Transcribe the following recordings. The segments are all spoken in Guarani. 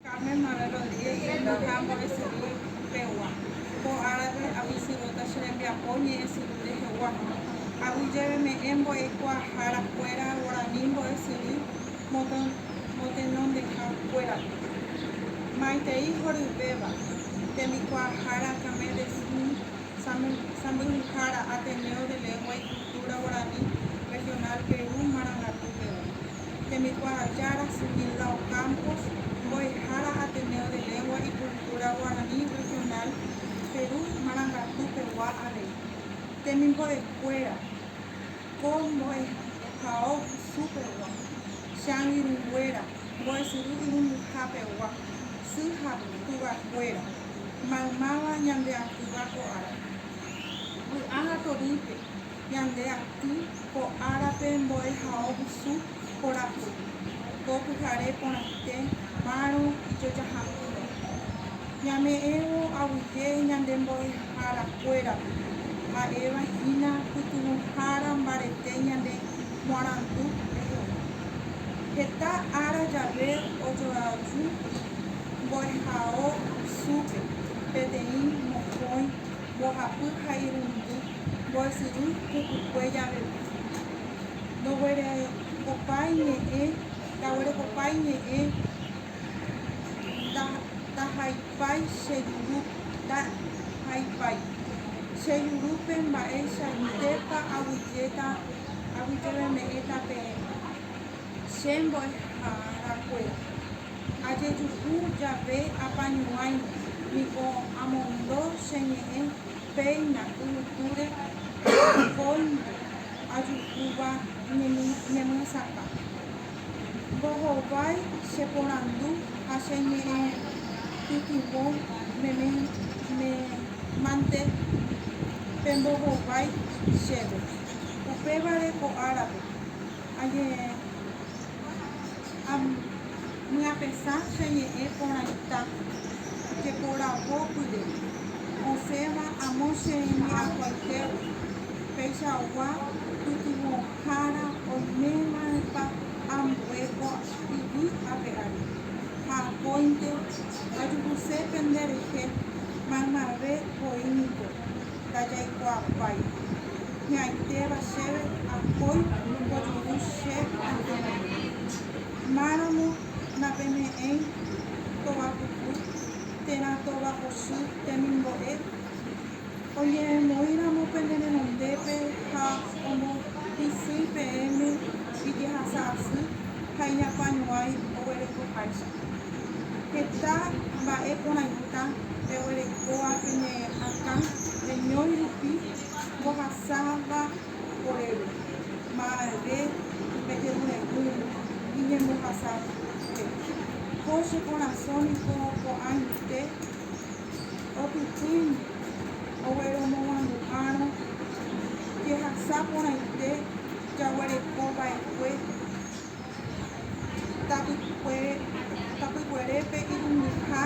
Carmen Morel Rodríguez henda ha ambo'esyry pegua. Ko árape avysyvota che rembiapo ñe'ẽsyry rehegua. Agui jave me'ẽ mbo'ekuaahára kuéra guarani mbo'esyry motenondeha kuérape. Maitei horyvéva, tembikuaahára Camé de Sny, sãmbyhyhára Ateneo de Lengua y Cultura Guarani Regional Perú marangatu pegua. Temikuaajára Sumilao Campos, Mbo'ehára Ateneo de Lengua y Cultura Guaraní Regional Perú Marangatu pegua avei. Temimbo'ekuéra, Ko mbo'ehao husu pegua, Changirũnguéra, Mbo'esyry Irundyha pegua, Sy ha Tuvakuéra, Maymáva Ñandeakyva ko árape. Vy'a ha torýpe. Ñande aty ko árape mbo'ehao vusu porãpy, ko pyhare porãite márõ ijojaha'ỹva. Ñame'ẽvo aguyje ñande mbo'ehára kuérape, ha'éva hína pytyvõhára mbarete ñande moarandu reheve. Heta ára jave ojoaju mbo'ehao vusúpe peteĩ mokõi mbohapy ha irundy. mbo'esyry pukukue javeve, ndoguerekopa iñe'ẽ, ndaguerekopa iñe'ẽ, ndahaipái che juru, ndahaipái che jurúpe mba'eichaitépa aguyjéta, aguyjeveme'ẽta peẽ, che mbo'eharakue, ajejuhu jave apañuãi niko amondo che ñe'ẽ. Péina yvytúre rohóinte ajuhúva ñemyesakã. Mbohovái che porandu ha che ñe'ẽ pytyvõ meme mante pembohovái chéve. Upévare ko árape añe'ẽramo. Amyapesa che ñe'ẽ porãita, jeporavópyre osẽva amo che ñe'akuaitégui, peichagua pytyvõhára oimeva'erãpa ambue ko yvy ape ári, ha akóinte ajuhuse pende rehe, maymave voi niko. ndajaikuaapái. Hi'ãitéva chéve akói ombojuru che añetehápe. Máramo napeme'ẽi tova puku térã tova osy temimbo'e? Oñeremoĩramo pene renondépe ha ombohysýi peẽme ijehasa'asy ha iñapañuãi oguerekoháicha. Heta mba'e porãita peguerekóva pene akã reñói rupi mbohasáva oréve, ma'ẽve pe jerure'ỹ iñembohasápe. Ko che korasõ niko ko'ãite otypýimi ogueromoguãmbu'árõ jehasa porãite jaguereko va'ekue. Tapykuerépe irundyha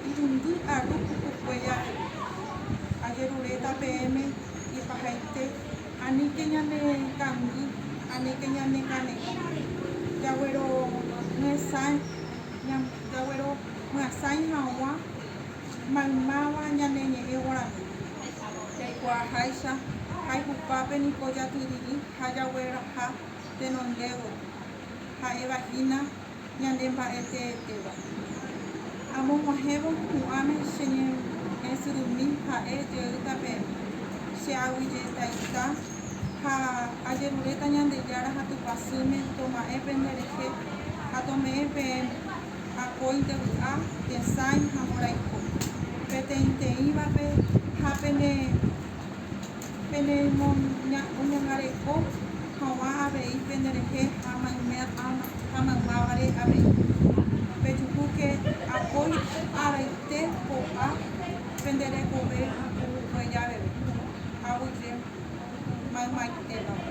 irundy aru pukukue jave, ajeruréta peẽme ipahaite, aníke ñane kangy, aníke ñane kane'õ. Jaguero myasãi haguã maymáva ñane ñe'ẽ guarani, jaikuaaháicha jaihupápe niko jatyryry ha jagueraha. tenondévo ha'éva hína ñande mba'e teetéva. Amog̃uahẽvo hu'ãme che ñe'ẽsyrumi ha'e jeýta pe che aguijetaita ha ajeruréta Ñandejára ha Tupãsýme toma'ẽ pende rehe ha tome'ẽ peẽme, akóinte vy'a, tesãi ha mborayhu, peteĩteĩvape ha pene Pene ñangareko haguã avei pende rehe ha mayme alma ha maymávare avei. Pejuhúke apói araite ko'ã pende rekove pukukue javeve, aguyje maymaitévape.